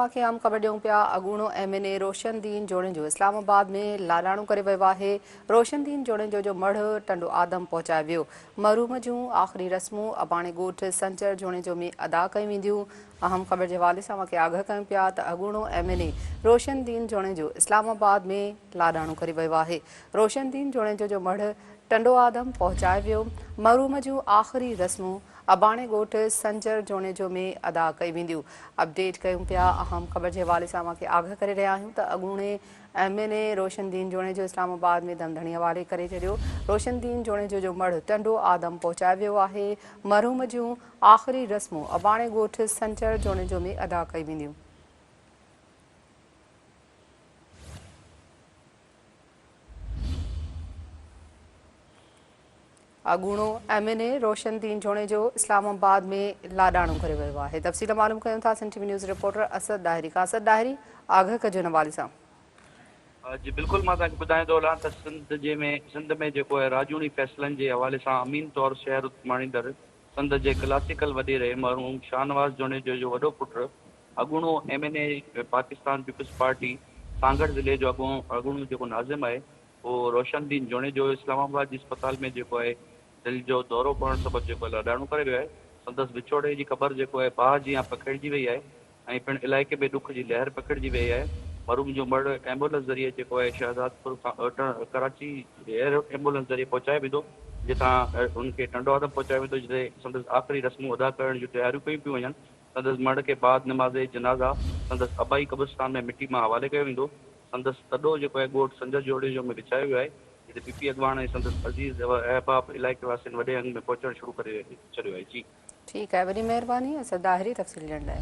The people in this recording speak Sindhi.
اوهان کي عام خبر ڏيون پيا اڳوڻو M N A Roshan Din Junejo اسلام آباد ۾ لاڏاڻو ڪري ويو آهي روشن دين جوڻيجو جو مڙهه ٽنڊو آدم پهچايو ويو مرحوم جون آخري رسمون اباڻي ڳوٺ سنچر جوڻيجو ۾ ادا ڪيون وينديون اهم خبر جي حوالي سان اوهان کي آگهه ڪيون پيا ته اڳوڻو M N A Roshan Din Junejo اسلام آباد ۾ لاڏاڻو ڪري ويو آهي روشن دين جوڻيجو جو مڙهه ٽنڊو آدم پهچايو ويو مرحوم جون آخري رسمون اباڻي ڳوٺ سنچر جوڻيجو ۾ ادا ڪيون وينديون اپڊيٽ ڪيون پيا اهم خبر جي حوالي سان اوهان کي آگهه ڪري رهيا آهيون ته اڳوڻي M N A Roshan Din Junejo اسلام آباد ۾ دم ڌڻي حوالي ڪري ڇڏيو روشن دين جوڻيجو جو مڙهه ٽنڊو آدم پهچايو ويو آهي مرحوم جون آخري رسمون اباڻي ڳوٺ سنچر جوڻيجو ۾ ادا ڪيون وينديون اڳوڻو M N A Roshan Din Junejo اسلام آباد ۾ لاڏاڻو ڪري ويو آهي تفصيل معلوم ڪيون ٿا Sindh T V news reporter Asad Dahri کان اسد ڏاهري آگهه ڪجي ان حوالي سان. جي بلڪل مان توهان کي ٻڌائيندو هلان ته سنڌ جي ۾ سنڌ ۾ جيڪو آهي راڄوڻي فيصلن جي حوالي سان امين طور شهر اڳواڻيندڙ سنڌ جي ڪلاسيڪل وڏي ري مرحوم شاهنواز جوڻيجو جو وڏو پٽ اڳوڻو M N A Pakistan Peoples Party Sanghar ضلعي جو اڳوڻو جيڪو ناظم آهي هو روشن دين جوڻيجو اسلام آباد جي اسپتال ۾ جيڪو آهي دل جو دورو پوڻ سبب جيڪو آهي لاڏاڻو ڪري ويو آهي. سندس وڇوڙي جي خبر جيڪو آهي باهه جيان پکيڙجي وئي آهي ۽ پڻ علائقي ۾ ڏک جي لهر پکيڙجي وئي آهي. مرحوم جو مڙهه ايمبولنس ذريعي جيڪو آهي شهدادپور کان ڪراچي ايئر ايمبولنس ذريعي پهچايو ويندو جتان هن کي ٽنڊوآدم پهچايو ويندو جتي سندس آخري رسمون ادا ڪرڻ جون تياريون ڪيون پيون وڃن. سندس مڙهه کي بعد نماز جنازه سندس ابائي قبرستان ۾ مٽي مان حوالي ڪيو ويندو. سندس تڏو جيڪو آهي ڳوٺ سنجهه جوڙيجو ۾ وڇايو ويو آهي، جتي پي پي اڳواڻ ۽ سندس عزيز احباب علائقي واسين وڏي انگ ۾ پهچڻ شروع ڪري ڇڏيو آهي. جي. ٺيڪ آهي وڏي مهرباني اسان ظاهري تفصيل ڏيڻ لاء.